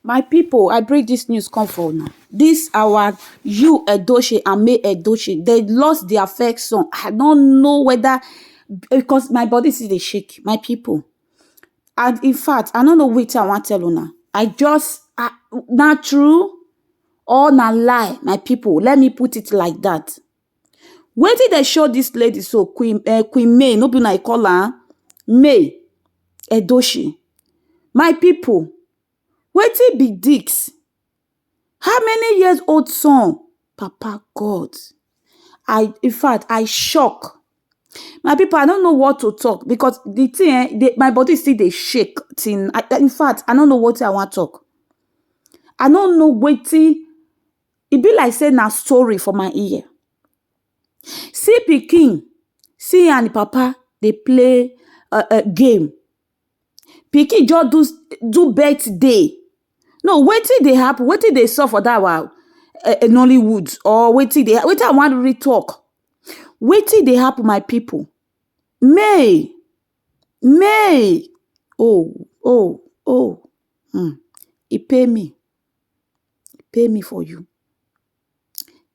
My pipu I bring dis news come for una, dis our Yul Edochie and May Edochie dey lost dia first son, I no know weda because my body still dey shake my pipu and in fact I no know wetin I wan tell una, I just ah na true or na lie my pipu let me put it like dat. Wetin dem show dis lady so queen um queen May no be una dey call am May Edochie my pipu wetin be dis how many years old son papa God I infact I shock my pipu I no know what to talk because de thing um dey my body still dey shake till infact I no know wetin I wan talk I no know wetin e be like sey na story for my ear. See pikin, see an e papa dey play um um game. Pikin juz do do birthday. No, wetin dey happen? Wetin dey sup for dat our um um Nollywood or wetin dey wetin I wan really talk? Wetin dey happen my pipu? Mey! Mey! Oh oh oh! um e pain me. e pain me for you,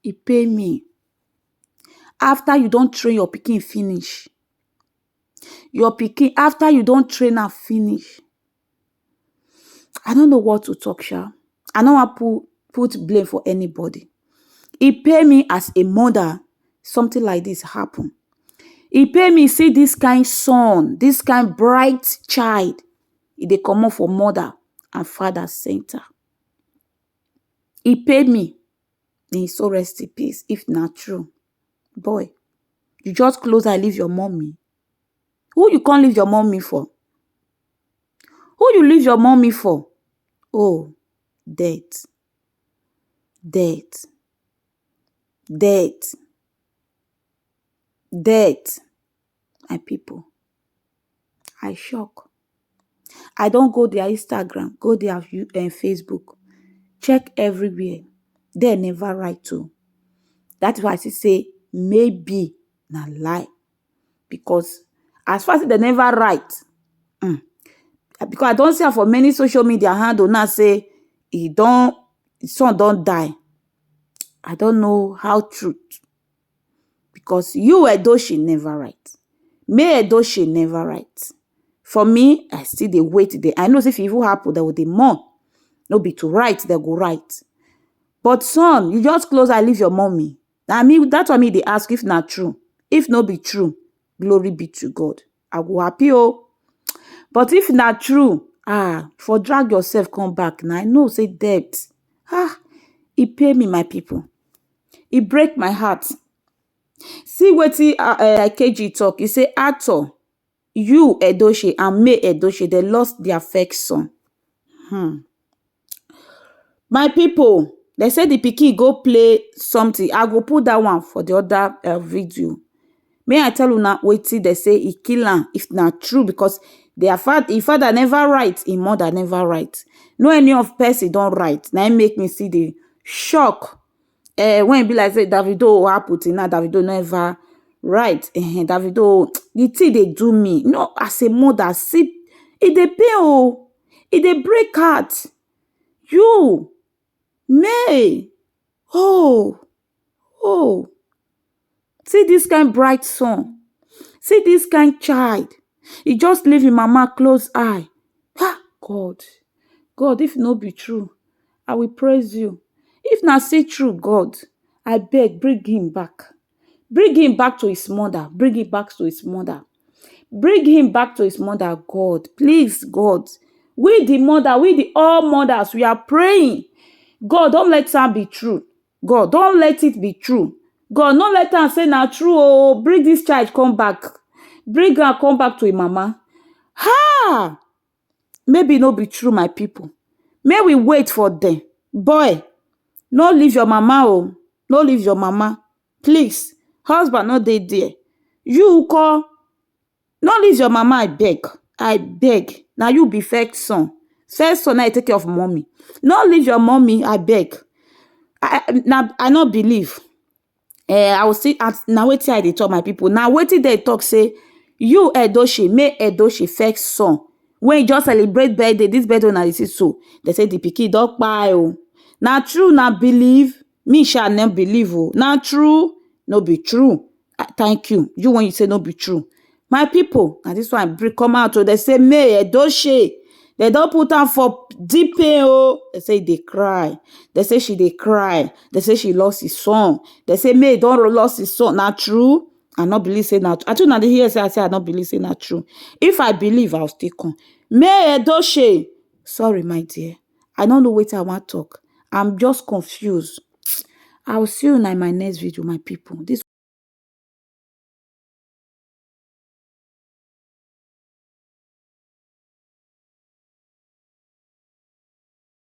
e pain me. After you don train your pikin finish, your pikin after you don train am finish, I no know what to talk sha, I no wan put put blame for anybody. E pain me as a mother something like dis happen, e pain me see dis kain son, dis kain bright child. e dey comot for mother and father center. E pain me, may e soul rest in peace if na true. Boy, you just close eye leave your mummy, who you come leave your mummy for? Who you leave your mummy for? Oh, death, death, death, death. my people I shock I don go their Instagram go their Facebook check everywhere dem never write o that is why I still say maybe na lie because as far as say dem never write um because I don see am for many social media handle now say e don him son don die I don't know how true because you Edochie never write me Edochie never write for me I still dey wait dey I know say if e even happen dem go dey mourn no be to write dem go write but son you just close eye leave your mummy na me that one me dey ask if na true if no be true glory be to God. I go happy oh. But if na true ah, for drag yourself come back na, I know sey debt ah, e pain me my pipu, e break my heart. See wetin um Ikeji talk, e say Arthur, Yul Edochie and May Edochie dem lost dia first son um. My pipu dem say di pikin go play something I go put dat one for di oda video make I tell una wetin dem say e kill am if na true because their father im father never write im mother never write no any of person don write na im make me still dey shock eh, when e be like say davido happen till now davido never right eh, davido the thing dey do me you know as a mother see e dey pain o e dey break heart you may oh oh See dis kind bright sun, see dis kind child, e just leave im mama close eye, ha! God, God if no be true, I will praise you, if na still true God, abeg bring im back, bring im back to his mother, bring im back to his mother, bring im back to his mother God, please God, we di mother, we di all mothers we are praying, God don let am be true, God don't let it be true God no let am say na true oh bring this child come back bring am come back to im mama ha maybe no be true my people make we wait for them boy no leave your mama oh no leave your mama please husband no dey there you call No leave your mama abeg abeg na you be first son first son na you take care of mummy no leave your mummy abeg I no believe um I will still ask na wetin I dey talk my people na wetin dem talk say you Edochie make Edochie first son wey just celebrate birthday this birthday wey una dey see so dem say the pikin don kpai o na true una believe Me sha no believe oh, na true? No be true? Ah thank you, you wen you say no be true. My pipu na dis one I bring come out oh, dem say May Edochie dem don put am for deep pain oh, dem say e dey cry, dem say she dey cry, dem say she lost im son, dem say May don lost im son, na true? I no believe sey na true, abi una dey hear sey I say I no believe sey na true, if I believe I go still come. May Edochie sorry my dear. I no know wetin I wan talk. I'm just confused. I will see una in my next video, my people. This